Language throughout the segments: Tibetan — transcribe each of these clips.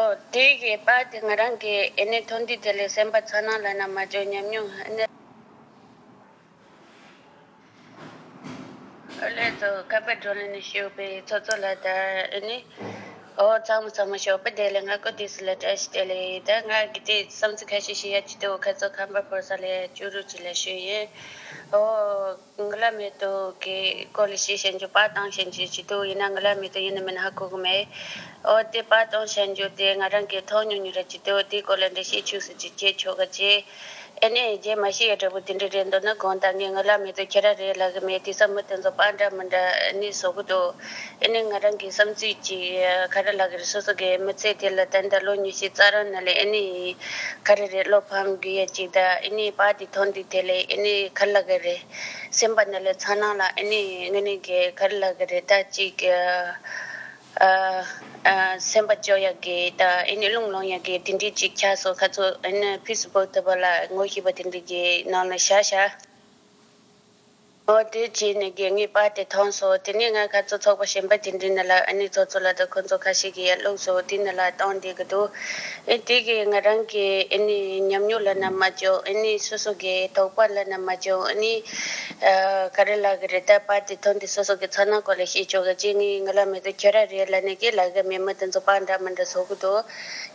ཨོ། དེ་ཞེས་པ་དེ་ང་རང་གིས་ཨེ་ནས་ཐོ་འདི་དེ་ལས་གསན་པ་ཚ་ནང་ལ་ན་མ་བྱོན་ཉམས་མྱོང་ཨེ་ནས། ཨོ་ལས་ཚོ་ཁ་པར་སྒྲོན་ལས་ནས་ཞུས་པའི་ཚོ་ཚོ་ལ་ད་ཨེ་ནས། ཨོ་ཚང་མ་ཚང་མ་ཞོགས་པ་དེ་ལས་ང་ཀོ་དེ་སུ་ལ་བཀྲ་ཤིས་དེ་ལས་ད་ང་གི་དེ་བསམ་ཚུལ་ཁ་ཤས་ཤིག་ཡ་ཅི་ཏུ་ཁ་ཚོ་ཁ་འབར་ཕོར་ས་ལས་ཅུ་རུ་ཅི་ལ་ཞུས་ཡིན། ཨོ། འགུ་ལ་མེད་དུ་གི་གོ་ལ་ཞེས་བཤད་རྒྱུ་པ་དང་བཤད་རྒྱུའི་སྤྱི་དོན་ཡིན་ན་འགུ་ལ་མེད་དུ་ཡིན་ནི་མིན་ཧ་གོ་གི་མེད། འོ་དེ་པ་དང་བཤད་རྒྱུ་དེ་ང་རང་གིས་མཐོང་མྱོང་མྱོང་རེད་སྤྱི་དོན་དེའི་སྐོར་ལ་འགྲེལ་བཤད་ཆུགས་སུ་ཅིག་བྱས་ཆོག་ག་ཅེས། ཨེ་ནས་རྗེས་མ་ཤི་ཡའི་འབྲས་བུ་དེ་འདྲའི་རེད་འདོད་ན་གང་ལྟར་ངས་འགུ་ལ་མེད་དུ་ཁྱེད་ར་རེད་ལབ་གི་མེད་དེ་སང་མི་དེ་ཚོ་པ་འདྲ་མི་འདྲ་ནི་བཟོ་གི་འདུག། དེ་ནས་ང་རང་གི་བསམ་ཚུལ་གཅིག། ག་རེ་ལགས་ཀྱི་རེད་སོ་སོ་གའི་མི་ཚེ་དེ་ལ་ཏན་ཏན་ལོ་ཉི་ཤུའི་རྩ་རང་ན་ལས་ཨེ་ནི་ཡིན། ག་རེ་རེད་བློ་ཕམ་དགོས་ཡས་ཅིག་གདའ་ཨེ་ནི་བ་དེ་ཐོག་འདི་དེ་ལས་ཨེ་ནི་གར་ལགས་ཀྱི་རེད། སེམས་པ་ན་ལས་ཚ་ནང་ལ་ཨེ་ནི་ངེ་ནི་གས་གར་ལགས་ཀྱི་རེད་ད་ཅིག། སེམས་པ་སྐྱོ་ཡས་གས་ད་ཨེ་ནི་རླུང་ལོང་ཡས་གས་དེ་འདྲི་ཅིག་ཆགས་སོ་ཁ་ཚོ་ཨེ་ནི་ཕུས་སུ་བོག་ཐུབ་པ་ལ་ངོ་ཤེས་པ་དེ་འདྲི་གས་ནང་ལ་བཞག་བཞག། འོ་དེ་རྗེས་ནས་དགེ་བསྔོས་པ་དེ་མཐོང་སོ། དེ་ནས་ང་ཁ་ཚོ་ཚོགས་པ་གཞན་པ་དེ་འདྲའི་ནི་ལ་ཨ་ནི་ཚོགས་གཙོ་ལ་དུ་ཁོ་ཚོ་ཁ་ཤས་ཀྱིས་ཡར་བླུགས་སོ་དེ་ནི་ལ་བཏང་དེ་གི་འདུག་ཨེ་དེ་གི་ང་རང་གི་ཨེ་ནི་ཉམས་མྱོང་ལ་ནི་མ་བཅོས་ཨེ་ནི་སོ་སོ་གི་དོགས་པ་ལ་ནི་མ་བཅོས་ཨེ་ནི་ག་རེ་ལ་གི་རེ་ད་པ་དེ་མཐོང་དེ་སོ་སོ་གི་ཚོགས་ནང་སྐོར་ལ་ཤེས་ཆོག་གི་གཅིག་ནི་ང་ལ་མི་དུ་ཁྱོད་ར་རེ་ལ་ནི་གི་ལ་གི་མི་མི་དེ་ཚོ་པ་འདྲ་མི་འདྲ་ཚོགས་གི་འདུག་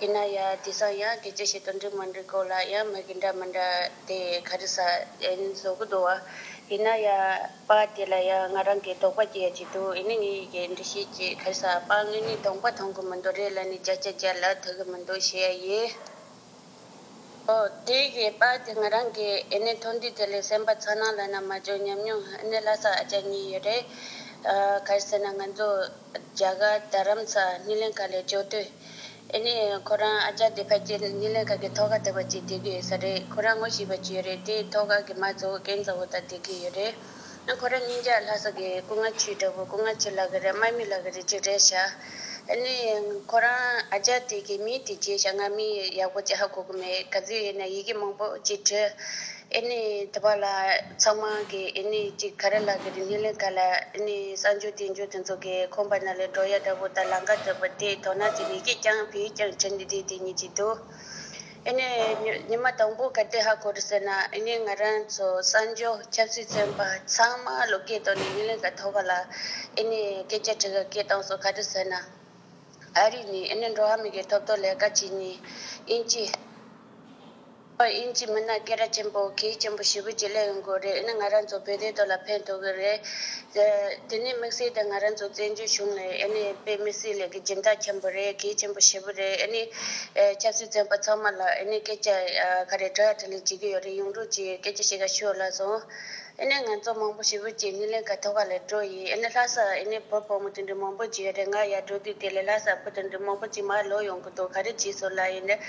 ཡིན་ན་ཡང་དེ་སང་ཡང་གི་ཅི་ཞིག་དུ་འདྲི་མ་འདྲི་སྐོར་ལ་ཡང་མི་གི་འདྲ་མི་འདྲ། དེ་ག་རེ་ཟ་ཨེ་ཡིན་བཟོ་གི་འདུག་བ། ཡིན་ན་ཡང་པ་དེ་ལ་ཡང་ང་རང་གིས་དོགས་པ་སྐྱེ་ཡ་ཅིག་འདུག་ཨེ་ནི་ངའི་ཡི་གེ་འབྲི་ཤེས་ཀྱི་ག་རེ་ཟ་པ་ངས་ནི་དོགས་པ་མཐོང་གི་མི་འདུག་རེད་ལ་ནི་བརྒྱ་ཆ་བརྒྱ་ལ་ཐུག་གི་མི་འདུག་ཞེས་ཡ་ཡི། ཨོ། དེ་ཡི་པ་དེ་ང་རང་གིས་ཨེ་ནི་ཐུགས་འདུན་དེ་ལས་སེམས་པ་ཚ་ནང་ལ་ནང་མ་འཇོག་ཉམས་མྱོང་ཨེ་ནི་ལྷ་ས་ཨ་ཅག་གཉིས་ཡོད་རེད། ག་རེ་ཟེར་ན་ང་ཚོ་རྒྱ་གར་རྡ་རམ་ས་སྣི་ལན་ག་ལས་བྱོ་དུས། ཨེ་ནས་ཁོ་རང་ཨ་ཅག་དེ་ཕ་སྐྱེས་ནས་ཉིན་ལས་ག་གི་ཐོག་ཁ་དེ་བ་ཅིག་དེ་གི་ས་རེད་ཁོ་རང་ངོ་ཤེས་པ་ཅིག་རེད་དེ་ཐོག་ཁ་གི་མ་གཙོ་བོ་རྒན་གཙོ་བོ་དང་དེ་གི་ཡོད་རེད་ཨ་ཁོ་རང་གཉིས་ཀྱག་ལྷ་ས་གི་སྐུ་ང་ཆུའི་འདྲ་བོ་སྐུ་ང་ཆུ་ལག་གི་རེད་སྨྲ་མི་ལག་གི་རེད་ཅིག་རེད་ཤག་ཨེ་ནས་ཁོ་རང་ཨ་ཅག་དེ་གི་མི་དེ་རྗེས་ཤག་ང་མི་ཡག་པོ་ཅི་ཧ་གོ་གི་མེད་ག་ཚོད་ཡིན་ན་ཡི་གེ་མང་པོ་ཅིག་བྲི་ཨེ་ནི་དེ་བ་ལ་ཚང་མ་གི་ཨེ་ནི་གཅིག་ག་རེ་ལ་གི་རིག་གནས་ལས་ཀ་ལ་ཨེ་ནི་གསར་འགྱུར་དེ་འགྱུར་དེ་ཚོ་གི་ཁོམ་པ་ན་ལས་འགྲོ་ཡ་འདྲ་བོ་དང་ལང་ཀ་འདྲ་བོ་དེ་དོ་ན་དེ་མི་ཤེས་ཀྱང་བེའུ་ཀྱང་ཁྱེར་ནི་དེ་དེ་ཉིད་ཀྱི་དུ། ཨེ་ནི་ཉི་མ་དང་པོ་ག་དེ་ཧ་གོ་རུ་ཟེར་ན་ཨེ་ནི་ང་རང་ཚོ་གསར་འགྱུར་ཆབ་སྲིད་བཙན་པ་ཚང་མ་ལོ་སྐད་ཐོག་ནས་ཡུན་ལས་ཀ་ཐོག་པ་ལ་ཨེ་ནི་སྐད་ཆ་དྲི་ག་སྐད་གཏོང་སོ་ག་རེ་ཟེར་ན་ཨ་རི་ནི་ཨེ་ནི་འགྲོ་བ་མི་གི་ཐོབ་ཐོ་ལས་ཀ་བྱེད་ཉིད་ཨིན་ཅི། དབྱིན་ཇིའི་མི་སྣ་སྐད་ར་ཆེན་པོ་གིས་གཅེན་པོ་ཞི་བུ་གྱི་ལས་ཡོང་གི་རེད་ནི་ང་རང་ཚོ་བོད་དོན་ཐོག་ལ་ཕན་ཐོག་གི་རེད། དེ་ནི་དམིགས་བསལ་དུ་ང་རང་ཚོ་བཙན་བྱོལ་གཞུང་ལ་ཨེ་ནི་ཨེ་པའི་མི་སེར་ལས་ཀྱི་སྦྱིན་བདག་ཆེན་པོ་རེད་གིས་གཅེན་པོ་ཞི་བུ་རེད་ཨེ་ནི་ཨེ་ཆབ་སྲིད་བཙོན་པ་ཚང་མ་ལ་ཨེ་ནི་སྐད་ཆ་ག་རེ་བྲོ་ཡ་བྲོ་ལི་བྱེད་ཀྱི་ཡོད་རེད་ཡོང་རོགས་གྱིས་སྐད་ཆ་བཤད་ག་ཤོས་ལ་སོང། ཨེ་ནས་ང་ཚོ་མང་པོ་ཞིག་བོད་ཀྱི་སྣེ་ལེན་ག་ཐོག་ག་ལས་འགྲོ་ཡི་ཨེ་ནས་ལྷ་སར་ཨེ་ནས་བོད་ཕོ་མོ་དེ་འདྲ་མང་པོ་གྱི་རེ་ང་ཡར་འགྲོ་དུས་དེ་ལས་ལྷ་སར་བོད་དེ་འདྲ་མང་པོ་གྱི་མར་ལོག་ཡོང་གི་འདུག་ག་རེ་གྱིས་ཟུར་ལ་ཡིན་ནས་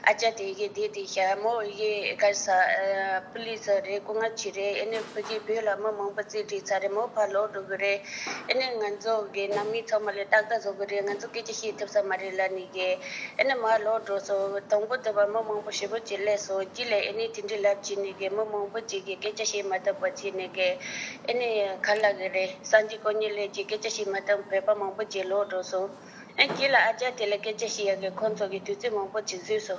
ཨ་ཅག་དེ་གིས་དེ་དེ་ཤ་མོ་ཡི་གར་ས་པུ་ལི་སི་རེད་སྐུ་ང་གྱི་རེད་ཨེ་ནས་ཕོ་གིས་བོད་ལ་མི་མང་པོ་རྩིས་བསྒྲིགས་ཚར་རེད་མོ་ཕར་ལོག་འགྲོ་གི་རེད་ཨེ་ནས་ང་ཚོ་གི་ནང་མི་ཚང་མ་ལ་ཏག་ཏག་བཟོ་གི་རེད་ང་ཚོ་སྐད་ཆ་བཤད་ཐུབ་ས་མ་རེད་ལར་ནས་གི། ཨེ་ནི་མ་བློ་གྲོས་སོ། དང་པོ་འདོད་པ་མི་མང་པོ་བཞི་པོ་གྱི་སླད་སོ། རྒྱུད་ལས་ཨེ་ནི་དེ་འདྲའི་ལབ་ཅིག་ནི་གེ་མི་མང་པོ་གཅིག་གི་སྐད་ཆ་ཤེས་མ་བཏབ་པ་གཅིག་ནི་གེ། ཨེ་ནི་ག་ལ་གི་རེ། སངས་རྒྱས་དཀོན་གཉེར་ལས་ཀྱི་སྐད་ཆ་ཤེས་མ་བཏབ་བོད་པ་མང་པོ་གཅིག་བློ་གྲོས་སོ། ཨེ་རྒྱུད་ལ་ཨ་ཅག་དེ་ལ་སྐད་ཆ་ཤེས་ཡ་གི་ཁོང་ཚོ་གི་དུས་ཚོད་མང་པོ་གཅིག་བཟོས་སོ།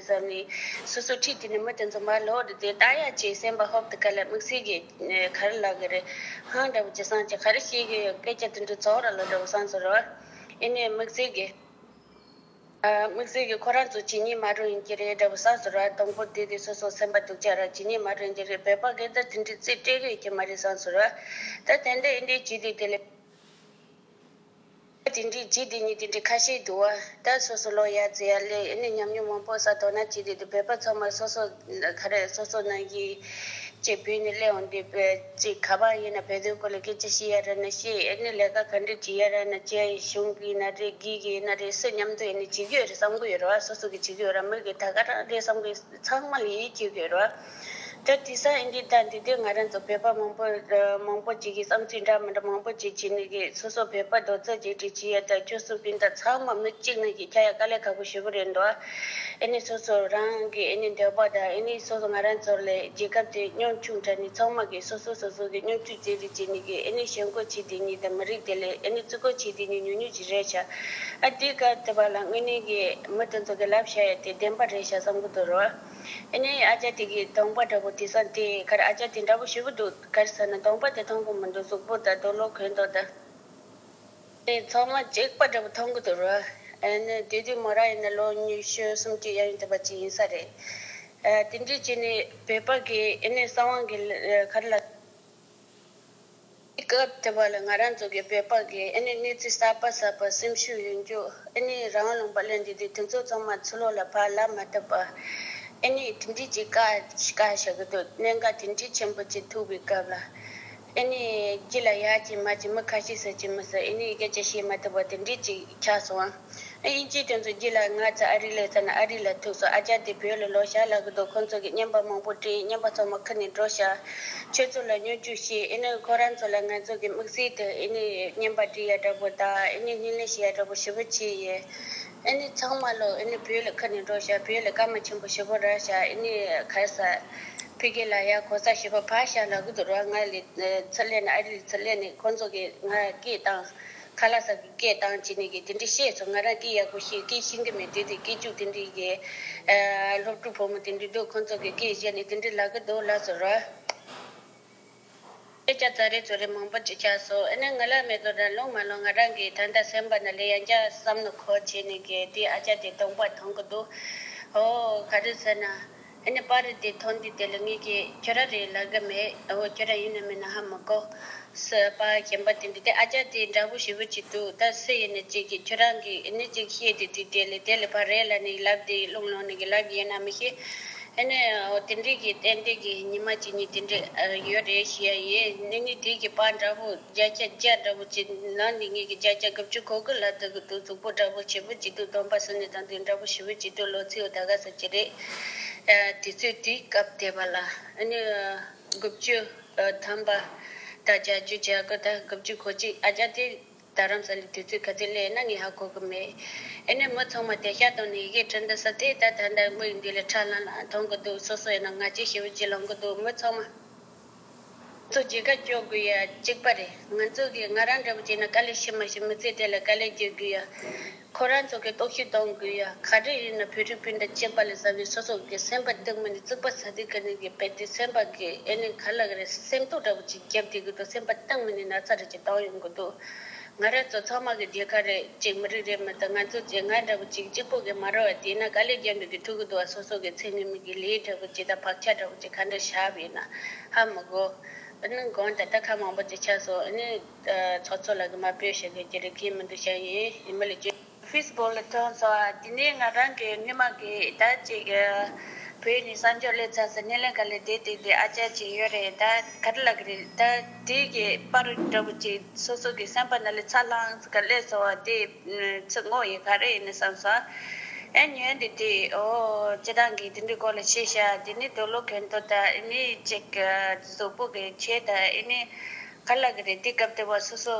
བསམས་ནས། སོ་སོའི་ཁྲིད་དེ་ནི་མི་དེ་ཚོ་མར་ལྷོ་རུ་བསྡད་ད་ཡ་ཅེས་སེམས་པ་ཧོབ་ཏུ་ཁ་ལས་མིག་ཟིག་གིས་ཁ་རུ་ལག་གི་རེད། ཧང་འདྲ་བོ་ཅི་སངས་ཀྱི་ཁ་རུ་ཤེས་ཀྱི་ཡོད་སྐད་ཆ་དེ་འདྲ་ཚོགས་ར་ལོ་འདྲ་བོ་སངས་སུ་རོལ། ཡིན་ནའི་མིག་ཟིག་གིས། མིག་ཟིག་གིས་ཁོ་རང་ཚོ་ཇི་སྙེད་མ་རུང་ཡིན་གྱི་རེད་འདྲ་བོ་སངས་སུ་རོལ་དང་པོར་དེ་དེ་སོ་སོར་སེམས་པ་སྡུག་ཅག་ར་ཇི་སྙེད་མ་རུང་གྱི་རེད་བོད་པ་སྐད་བརྡ་དེ་འདྲའི་རྩིས་སྤྲད་གི་ཡོད་ཀྱི་མ་རེད་སངས་སུ་རོལ། ད་དེ་འདྲ་ཡིན་དུས་ཇི་སྟེ་དེ་ལས། ལས་དེ་འདྲའི་རྗེས་དེ་ཉིད་དེ་འདྲའི་ཁ་ཤས་འདུག་བ་ད་སོ་སོ་ལོ་ཡག་རྫི་ཡག་ལས་ནས་ཉམས་མྱོང་མང་པོ་བསགས་དོགས་ན་ཅི་རེད་དེ་བོད་པ་ཚང་མ་སོ་སོ་ག་རེ་སོ་སོ་ནང་གི་ཅེས་བོད་ནས་གླེང་འོང་འདི་ཅེས་ག་པང་ཡིན་ན་བོད་དོན་སྐོར་ལ་སྐད་ཆ་ཤི་ཡ་ར་ན་ཤི་ཨེ་ནས་ལས་ཀ་ག་འདྲ་བྱེད་ཡ་ར་ན་བྱེད་གཞུང་གི་ན་རེ་སྒིག་གི་ན་རེ་སུ་མཉམ་དུ་ཡེ་ནས་བྱེད་གི་ཡོད་རེད་བསམ་གི་ཡོད་རེད་བ་སོ་སོ་གི་བྱེད་གི་ཡོད་ར་མི་གི་ད་ག་རང་རེད་བསམ་གི་ཚང་མ་ལ་ཡིད་ཆེས་གི་ཡོད་རེད་བ། དེར་དུས་སང་ཨིན་དྲིས་ད་འདི་དུས་ང་རང་ཚོ་བོད་པ་མང་པོ་མང་པོ་ཅིག་གིས་བསམ་ཚུལ་འདྲ་མི་འདྲ་མང་པོ་ཅིག་བྱེད་ནི་རེད་སོ་སོ་བོད་པ་རྡོ་རྩ་གཅིག་སྒྲིལ་བྱེད་ཡ་ད་ཁྱོད་གསུང་སྤུན་ཟླ་ཚང་མ་མི་གཅིག་ནང་གི་ཁྱ་ཡ་དཀའ་ལས་ཁག་པོ་ཞུ་གི་རེད་འདུག་ཨེ་ནི་སོ་སོ་རང་གི་ཨེ་ནི་འདོད་པ་དང་ཨེ་ནི་སོ་སོ་ང་རང་ཚོར་ལས་རྒྱལ་ཁབ་དེ་སྙོམས་ཆུང་དྲགས་ནི་ཚང་མ་གིས་སོ་སོ་སོ་སོ་གི་སྙོམས་ཆུང་རྩེད་རིགས་བྱེད་ནི་གིས་ཨེ་ནི་ཞེན་ཁོག་བྱེད་དེ་ཉིད་དང་མི་རིགས་དེ་ལས་ཨེ་ནི་བརྩི་བཀུར་བྱེད་དེ་ཉིད་ཉུག་ཉུག་ཅིག་རེད་ཤག་ཨ་འདི་ག་དེ་བ་ལ་དངོས་གནས་གིས་མི་དེ་ཚོ་གི་ལབ་བྱ་ཡ་དེ་བདེན་པ་རེད་ཤག་བསམ་གི་འདུག་རོགས། ཨེ་ནས་ཨ་ཅག་དེ་གའི་གདོང་པ་འདྲ་པོ་དེ་སངས་དེ་གར་ཨ་ཅག་དེ་འདྲ་པོ་བྱེད་པོ་འདུག་གར་ཟེར་ན་གདོང་པ་དེ་མཐོང་གི་མི་འདུག་གཟུགས་པོ་དང་རྡོ་ལོ་གོན་ཏོ་དང། དེ་ཚང་མ་སྐྱེག་པ་འདྲ་པོ་མཐོང་གི་འདུག་རོ། ཨེ་ནས་དུས་དུས་མོ་རང་ཡིན་ན་ལོ་ཉི་ཤུ་སུམ་ཅུ་ཡན་ཡོད་ཐུབ་པ་ཅིག་ཡིན་ས་རེད། དེ་འདྲས་བྱས་ནས་བོད་པ་གིས་ཨེ་ནས་གསང་དབང་གི་གར་ལ། དེ་སྐབས་དེ་བ་ལ་ང་རང་ཚོ་གི་བོད་པ་གི་ཨེ་ནི་གནས་ཚུལ་གསར་པ་གསར་པ་སེམས་ཤུགས་ཡོད་རྒྱུ་ཨེ་ནི་རང་ལུང་པ་ལོན་དེ་དུས་དེ་ཚོ་ཚང་མ་ཚུར་ལོག་ལ་བར་ལབ་མ་ཐུབ་པ་ཨེ་ནི་དེ་འདྲིས་ཀྱི་ཀ་ཀ་བྱ་གི་འདུག་གནད་འགག་དེ་འདྲིས་ཆེན་པོ་གཅིག་ཐུག་པའི་སྐབས་ལ་ཨེ་ནི་སྐྱིད་ལ་ཡག་གྱི་མ་གྱི་མི་ཁ་ཤས་ཟེར་གྱི་མི་ཟེར་ཨེ་ནི་སྐད་ཆ་བཤད་མ་ཐུབ་པ་དེ་འདྲིས་གཅིག་ཆགས་སོང། དབྱིན་ཇིའི་དེ་ཚོ་རྒྱུད་ལ་ང་ཚོ་ཨ་རི་ལས་ས་ན་ཨ་རི་ལ་ཐུག་སོང་ཨ་ཅག་དེ་བོད་ལ་ལོག་ཞག་ལ་གི་འདུག་ཁོང་ཚོ་གི་བརྙན་པར་མང་པོ་བྲིས་བརྙན་པར་ཚང་མ་ཁུར་ནས་འགྲོ་ཞག་ཁྱོད་ཚོ་ལ་སྨྱོ་རྒྱུ་ཤེས་ཨེ་ནི་ཁོ་རང་ཚོ་ལ་ང་ཚོ་གི་དམིགས་བསལ་དུ་ཨེ་ནི་བརྙན་པར་བྲིས་ཡ་འདྲ་པོ་དང་ཨེ་ནི་བརྙན་ལེན་བྱས་ཡ་འདྲ་པོ་ཞེ་པོ་བྱས་ཡས་ཨེ་ནི་ཚང་མ་ལོག་ཨེ་ནི་བོད་ལ་ཁུར་ནས་འགྲོ་ཞག་བོད་ལ་སྐར་མ་ཆེན་པོ་ཞེ་པོ་རག་ཞག་ཨེ་ནི་གར་ས་ཕི་གེ་ལ་ཡ་གོ་ས་ཞེ་པོ་བག་ཞག་ལ་གི་འདུག་རོགས་ང་ལས་ཚུར་སླེབས་ནས་ཨ་རི་ལས་ཚུར་སླེབས་ནས་ཁོང་ཚོ་གི་ང་སྐད་བཏང། ཁ་ལག་ཟ་གི་སྐད་གདངས་ཇི་ནས་གི་དེ་འདྲི་བཤད་སོང་ང་རང་སྐད་ཡག་པོ་ཤེས་སྐད་ཤེས་གི་མེད་དེ་དེ་སྐད་ཅུག་དེ་འདྲི་ཡས། སློབ་ཕྲུག་ཕོ་མོ་དེ་འདྲི་འདུག་ཁོང་ཚོ་གི་སྐད་བཤད་ནས་དེ་འདྲི་ལག་གི་འདུག་ལགས་སོ་ར། སྐད་ཆ་ཚ་རེ་ཚོ་རེ་མང་པོ་བྱེད་ཆགས་སོང་ཨེ་ན་ང་ལ་མེད་དོ་ར་ལོང་མ་ལོང་ང་རང་གི་ད་ལྟ་སེམས་པ་ན་ལས་ཡང་བསྐྱར་བསམ་ནོ་ཁོ་བྱས་ནས་གི་དེ་ཨ་ཅག་དེ་སྟོང་པ་མཐོང་གི་འདུག་ཧོ། ག་རེ་ཟེར་ན། ཨ་ནི་པར་རིས་དེ་ཐོ་འདི་དེ་ལ་ངེད་ཀྱིས་ཁྱོད་ར་རེད་ལབ་གི་མེད་ཨོ་ཁྱོད་ར་ཡིན་ནམ་མིན་ན་ཧ་མི་གོ། སི་ཨ་པ་གཞན་པ་དེ་འདི་དེ་ཨ་ཅག་དེ་འདྲ་བོ་ཞིག་བུ་གཅིག་འདུག་ད་སི་ཡིན་ནི་གཅིག་གིས་ཁྱོད་རང་གིས་ཨི་ནི་གཅིག་ཤེས་དེ་དེ་དེ་ལས་དེ་ལས་པར་རེད་ལ་ནི་ལབ་དེ་རླུང་ལོང་ནི་གི་ལབ་གི་ཡིན་ནམ་མི་ཤེས། ཨེ་ནི་ཨོ་དེ་འདྲས་གི་གཏན་བདེ་གི་ཉི་མ་གཅིག་གཉིས་དེ་འདྲས་ཡོད་རེད་ཤེས་ཡ་ཡིན་ཨི་ནི་དེ་གི་པར་འདྲ་བོ། བརྒྱ་ཆ་བརྒྱ་འདྲ་པོ་བྱེད་ན་འདི་ཉིད་ཀྱི་བརྒྱ་ཆ་དགུ་བཅུ་གོ་དགུ་ལ་དུ་གུ་དུ་གཙུག་པོ་འདྲ་པོ་བྱེད་པོ་ཅིག་ཏུ་སྡོམ་པ་སུ་ནི་དང་དུས་འདྲ་པོ་ཞི་བོ་ཅིག་ཏུ་ལོ་ཚིགས་ད་ག་ཟེར་གྱི་རེད། དུས་ཚོད་དུས་སྐབས་དེ་བ་ལ་ཨ་ནི་དགུ་བཅུ་ཐམ་པ་དང་བརྒྱ་བཅུ་བརྒྱ་གོ་དང་དགུ་བཅུ་གོ་གཅིག་ཨ་ཅག་དེ་ད་རམ་ས་ལི་དུས་ཚོད་ག་ཚོད་ལས་ན་ངས་ཧ་གོ་གི་མེད། ཨ་ནི་མི་ཚང་མ་དེ་ཤ་དང་ནི་ཡི་གེ་ཁྲི་འདི་ས་དེ་ད་ད་ལྟ་དམིགས་འདི་ལས་ཁྲ་ལམ་ལམ་མཐོང་གི་འདུག་སོ་སོ་ཡིན་ན་ང་ཅི་ཞི་བོ་ཅིག་ལངས་གི་འདུག་མི་ཚང་མ། ཚོ་རྒྱལ་ཁ་སྐྱོ་དགོས་ཡ་གཅིག་པ་རེད་ང་ཚོ་གིས་ང་རང་འདྲ་བོ་བྱས་ན་དཀའ་ལས་ཤི་མ་ཤི་མི་ཚེ་དེ་ལ་དཀའ་ལས་སྐྱེལ་དགོས་ཡ་ཁོ་རང་ཚོ་གིས་རྟོག་ཞིབ་གཏོང་དགོས་ཡ་ག་རེ་ཡིན་ན་བོད་རིགས་སྤུན་ཟླ་སྐྱེས་པ་ལས་བཟང་བའི་སོ་སོ་གིས་སེམས་པ་སྡུག་མིན་རྩུབ་པ་ཟ་དུས་ག་ནས་གི་བལ་དུས་སེམས་པ་གི་ཨེ་ནས་ག་ལ་ག་རེ་སེམས་སྟོང་འདྲ་བོ་ཅིག་རྒྱབ་དེ་གི་འདུག་སེམས་པ་སྟངས་མི་ནས་ན་ཚ་རེ་ཅིག་བཏང་ཡོང་གི་འདུག་ང་རང་ཚོ་ཚང་མ་གི་རྒྱལ་ཁ་རེད་ཅེས་མི་རིགས་རེ་མི་དང་ང་ཚོ་ཚེ་སྔ་འདྲ་བོ་ཅིག་གཅིག་པོ་གི་མ་རོ་བ་དེས་ན་ག་ལེར་རྒྱ་མི་གི་ཕྲུ་གུ་དུ་བ་སོ་སོ་གི་ཚེ་ངེད་མི་གི་ལེའི་འདྲ་བོ་ཅིག་དང་བག་ཆགས་འདྲ་བོ་ཅིག་ག་འདྲ་ཞག་བས་ན་ཧ་མི་གོ། ཨ་ནུ་གང་ད་ལྟ་ཁ་མང་པོ་ཅིག་ཆགས་སོང་ཨ་ནུ། ཚོགས་གཙོ་ལགས་གི་མ་བོས་ཞེས་དགོས་ཀྱི་རེ་སྐན་མི་འདུག་བྱ་ཡིན་ཡིན་མི་ལ་བཅོལ། Facebook ལ་ཐོན་སོང་ང་དེ་ནས་ང་རང་གི་སྣེ་མང་གི་ད་ཅིག་གི་བོད་ནས་གསར་འབྱོར་སླེབས་ཚར་སོང་སྣེ་ལེན་ག་ལེར་བསྡད་དེ་འདི་ཨ་ཅག་ཅིག་ཡོད་རེད་ད་ག་རེ་ལ་གི་རེད་ད་དེ་གི་པར་འདྲ་བོ་ཅིག་སོ་སོ་གི་སེམས་པ་ན་ལས་ཚ་ལྷང་ག་ལེར་སོང་བ་དེ་ཚིག་ངོ་ཡི་ག་རེ་ཡིན་ནི་བསམ་སོང་ཨེ་ཉོན་དེ་དུས་ཨོ་ཅི་རང་གི་དེ་འདྲའི་སྐོར་ལ་ཤེས་ཤག་དེ་ནས་དོ་ལོ་གན་དོ་ད་ཨེ་ནི་ཅིག་གི་གཟུགས་པོ་གི་ཁྱེད་ད་ཨེ་ནི་ག་ལ་གི་རེད་དེ་སྐབས་དེ་བ་སོ་སོ།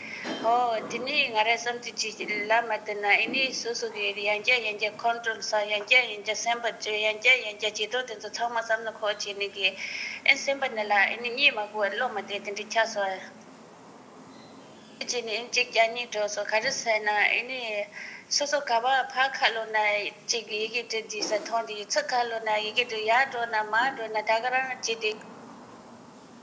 ཧོ། དེ་ནས་ང་རང་བསམ་དུས་ཅི་ལ་མ་བལྟས་ན་ཨེ་ནི་སོ་སོ་གི་ཡང་བསྐྱར་ཡང་བསྐྱར་ཁོང་ཁྲོ་ས་ཡང་བསྐྱར་ཡང་བསྐྱར་སེམས་པ་བཅོས་ཡང་བསྐྱར་ཡང་བསྐྱར་བྱེད་དོགས་དེ་ཚོ་ཚང་མ་བསམ་ན་ཁོག་བྱེད་ནི་གི། ཨེ་སེམས་པ་ནི་ལ་ཨེ་ནི་གཉིད་མ་བུ་བར་ལོག་མ་བསྡད་དེ་འདྲི་ཆགས་སོང། ཁོག་བྱེད་ནི་ཨེ་གཅིག་བསྐྱར་གཉིས་དྲོགས་སོང་ག་རེ་ཟས་ན་ཨེ་ནི། སོ་སོ་ག་བ་ཕ་ཁ་ལོ་ན་ཅིག་ཡི་གེ་འབྲི་འདི་ཟ་ཐོང་འདི་ཚིག་ཁ་ལོ་ན་ཡི་གེ་འབྲི་ཡག་འགྲོ་ན་མ་འགྲོ་ན་ད་ག་རང་བྱེད་དེ།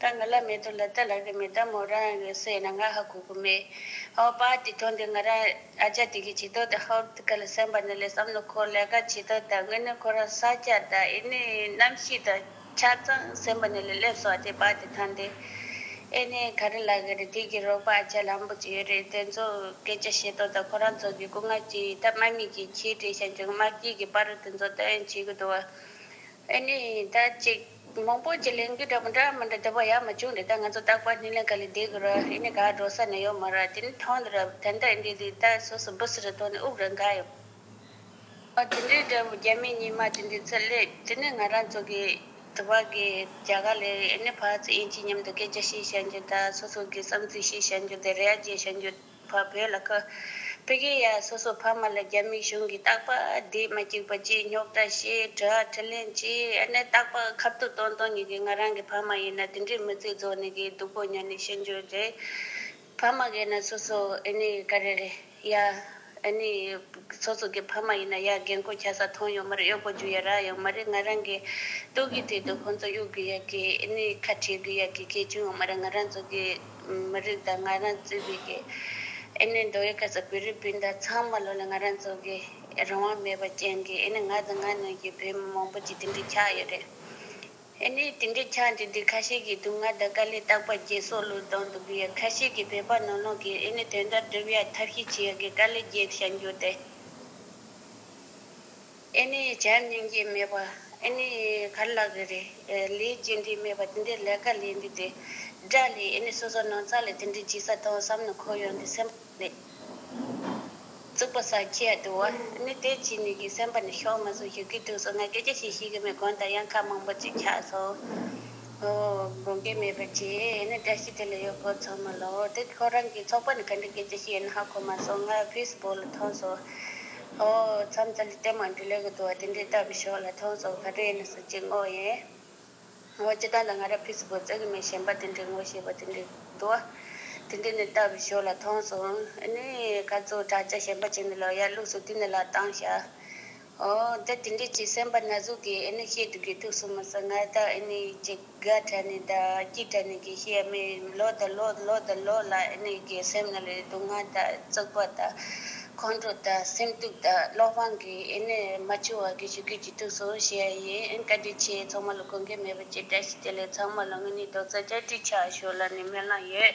ད་ང་ལ་མེད་དོ་ལ་ད་ལགས་ཀྱི་མེད་ད་མོ་རང་ཡང་ཡོད་སའི་ན་ང་ཧ་གོ་གི་མེད། ཧོ་བ་དེ་དོན་དེ་ང་རང་ཨ་ཅག་དེ་གི་བྱེད་དོ་ད་ཧོར་ཐི་ཀ་ལ་སེམས་པ་ནི་ལས་བསམ་ནི་ཁོ་ལས་ཀ་བྱེད་དོ་ད་དངོས་གནས་ཁོ་རང་ས་སྐྱ་ད་ཨེ་ནི་གནམ་གཤིས་ད་ཆ་ཚང་སེམས་པ་ནི་ལས་སླེབས་སོ་ཨ་དེ་བ་དེ་ཐང་དེ་ཨེ་ནི་ག་རེ་ལགས་ཀྱི་རེད་དེ་གི་རོགས་པ་ཨ་ཅག་ལམ་པོ་ཅིག་ཡོད་རེད་དེ་ཚོ་སྐད་ཆ་བཤད་དོ་ད་ཁོ་རང་ཚོ་གི་སྐུ་ངལ་གྱི་ད་སྨྲ་མི་གི་ཁྱི་དྲེད་ཤ་འཇོན་དམར་དཀྱིལ་གི་པ་རུ་དེ་ཚོ་ད་ཨེ་བྱེད་གི་འདུག་ཨ་ཨེ་ནི་ད་ཅིག། མང་པོ་ཅིག་ལེན་གི་འདྲ་མི་འདྲ་མི་འདྲ་དེ་བ་ཡ་མ་བྱུང་དེ་ལྟར་ང་ཚོ་རྟག་པར་ཉིན་ལེན་ག་ལས་བསྡད་གི་ར་ཡིན་ནས་ག་འགྲོ་ས་ནས་ཡོད་མ་ར་དེ་ནས་ཐང་འདི་ར་ཐན་ད་ཨིན་དྲི་དེ་ལྟར་སོ་སོ་སྦུ་སི་རི་ཐོག་ནས་དབུགས་ར་འགག་ཡོད་པ་དེ་འདྲའི་འདྲ་བོ་རྒྱ་མི་གཉིས་མ་དེ་འདྲའི་ཚད་ལས་དེ་ནས་ང་རང་ཚོ་གི་དེ་བ་གི་རྒྱ་ག་ལས་ཨིན་ནས་བར་ཚེ་ཨིན་གྱི་མཉམ་དུ་སྐད་ཆ་བཤད་བཤད་རྒྱུ་ད་སོ་སོ་གི་བསམ་ཚུལ་བཤད་བཤད་རྒྱུ་དེ་རེ་ཡ་བརྗེ་བཤད་རྒྱུ། བ་བོད་ལ་བཀོད། བོད་རྒྱའི་ཡ་སོ་སོ་ཕ་མ་ལ་རྒྱ་མིའི་གཞུང་གིས་རྟག་པ་བསྡད་མ་བཅུག་པ་བཅས་རྙོག་དྲ་བཤད་གྲྭ་ཁྲི་ལེན་བྱས་ཨ་ནི་རྟག་པ་ཁབ་ཏུ་བཏོན་བཏོན་ཉིད་ཀྱིས་ང་རང་གི་ཕ་མ་ཡིན་ན་དེ་འདྲའི་མི་ཚེ་རྫོགས་ནས་གི་སྡུག་པོ་མྱོང་ནས་ཤི་འགྱོད་རེད། ཕ་མ་གི་ན་སོ་སོ་ཨེ་ནི་ག་རེ་རེད་ཡ་ཨེ་ནི་སོ་སོ་གི་ཕ་མ་ཡིན་ན་ཡ་རྒན་བཀུར་བྱ་ས་ཐོན་ཡོད་མ་རེད་གཡོག་པོ་རྒྱུ་ཡ་རག་ཡོད་མ་རེད་ང་རང་གི་སྟོད་གི་དུས་དུ་ཁོང་ཚོ་གཡོག་དགོས་ཡ་གི་ཨེ་ནི་ཁ་བྲལ་དགོས་ཡ་གི་གལ་ཆུང་ཡོད་མ་རེད་ང་རང་ཚོ་གི། མི་རིགས་དང་ང་རང་བརྩེ་བའི་སྐད། ཨེ་ནི་འདོད་ཡོན་ཁ་ས་བོད་རིགས་སྤུན་ཟླ་ཚང་མ་བློ་ལ་ང་རང་འཛོལ་དགོས། རང་དབང་མེད་པ་ཅན་གྱི་ཨེ་ནི་ང་དང་ང་ནང་གི་བོད་མི་མང་པོ་ཅིག་དེ་འདྲའི་ཆགས་ཡོད་རེད། ཨེ་ནི་དེ་འདྲའི་ཆགས་འདི་འདི་ཁ་ཤས་ཀྱི་སྡུག་བསྔལ་དང་དཀའ་ལས་རྟག་པར་རྒྱལ་སྲོག་བློས་བཏང་དུ་འབུལ་ཡ་ཁ་ཤས་ཀྱི་བོད་པ་ནང་ནང་གི་ཨེ་ནི་དོན་དག་སྒྲུབ་ཡ་ཐབས་ཤེས་བྱེད་ཡ་གི་དཀའ་ལས་རྒྱལ་ཞེན་རྒྱུ་དེ། ཨེ་ནི་ཡི་བྱས་ནན་གྱིས་སྨྲས་པ། ཨེ་ནི་ཡི་གར་ལགས་ཀྱི་རེ། ལས་ཅི་འདྲས་སྨྲས་པ་དེ་འདྲས་ལས་ཀ་ལས་འདི་དེ། སྒྲ་ལས་ཨེ་ནི་སོ་སོ་སྣང་ཚ་ལས་དེ་འདྲས་ཇི་ས་དང་བསམ་ནི་འཁོར་ཡོང་དེ་སེམས་པ་ལས། རྩུབ་པ་ས་ཁྱི་ཡ་དུ་བ། ཨེ་ནི་དེ་ཅི་ནི་གི་སེམས་པ་ནི་ཤོག་མ་སོ་ཞིག་གི་དུས་སུ་ང་སྐད་ཅི་ཞིག་ཤིག་གི་མི་གོན་ད་ཡང་ཁ་མང་པོ་ཅིག་ཆགས་སོ། དགོངས་སྐད་སྨྲས་པ་ཅི་ཨེ་ནི་སྒྲ་ཞིག་དེ་ལ་ཡོད་ཁོ་ཚང་མ་ལོ། དེ་ཁོ་རང་གི་ཚོགས་པ་ནི་ག་འདྲས་སྐད་ཅི་ཞིག་ཡིན་ཧ་གོ་མ་སོ་ང་བྷིས་བོ་ལ་ཐོངས་སོ། ཨོ། མཚམས་ཚ་ལི་ཏའི་མ་འདི་ལས་གི་དུ་བ་དེ་འདྲའི་ལྟ་བུའི་ཕྱོགས་ལ་མཐོང་སོགས་ག་དུས་ཡིན་ན་སུ་གཅིག་བསྔོ་ཡིན། ཨོ། སྤྱི་དོན་དང་ང་ར་ཕིས་སྒོ་རྩེ་གི་མི་གཞན་པ་དེ་འདྲའི་བསྔོ་ཞེས་པ་དེ་འདྲའི་དུ་བ་དེ་འདྲའི་ནི་ལྟ་བུའི་ཕྱོགས་ལ་མཐོང་སོང་ཨེ་ནི། ཁ་རྩོད་དྲག་ཆ་ཞན་པ་བྱས་ནས་ལོ་ཡར་ལུགས་སུ་དུས་ནི་ལ་བཏང་བྱ། ཨོ། འདི་དེ་འདྲའི་ཅིག་སེམས་པ་ན་ཟུག་གིས་ཨེ་ནི་བཤད་དུ་དགོས་ཐུག་སུ་མི་སྲིད་ང་ལྟ་ཨེ་ནི་ཅིག། དགའ་དྲན་ནས་དང་སྐྱིད་དྲན་ནས་ཀྱི་ཤེས་ཡ་མེད་ཡིན་མི་ལོ་དང་ལོ་ལོ་དང་ལོ་ལ་ཨེ་ནས་ཀྱི་སེམས་ནང་ལ་ཡི་སྡུག་བསྔལ་དང་བརྩེགས་པ་དང་ཁོང་ཁྲོ་དང་སེམས་སྡུག་དང་བློ་དཔང་གི་ཨེ་ནས་མ་ཆུ་བ་གི་ཞུ་ཁེ་ཅི་ཐུག་སོང་བཤད་ཡ་ཡིན་ཨེ་བཀའ་དྲིན་ཆེ་ཚང་མ་ལ་གོ་མཁན་མེད་པ་ཅི་བཀྲ་ཤིས་བདེ་ལེགས་ཚང་མ་ལ་དངོས་གནས་རྡོག་རྩ་བཅར་དྲིལ་ཆགས་ཞོར་ལ་ནས་སྨོན་ལམ་ཡོད།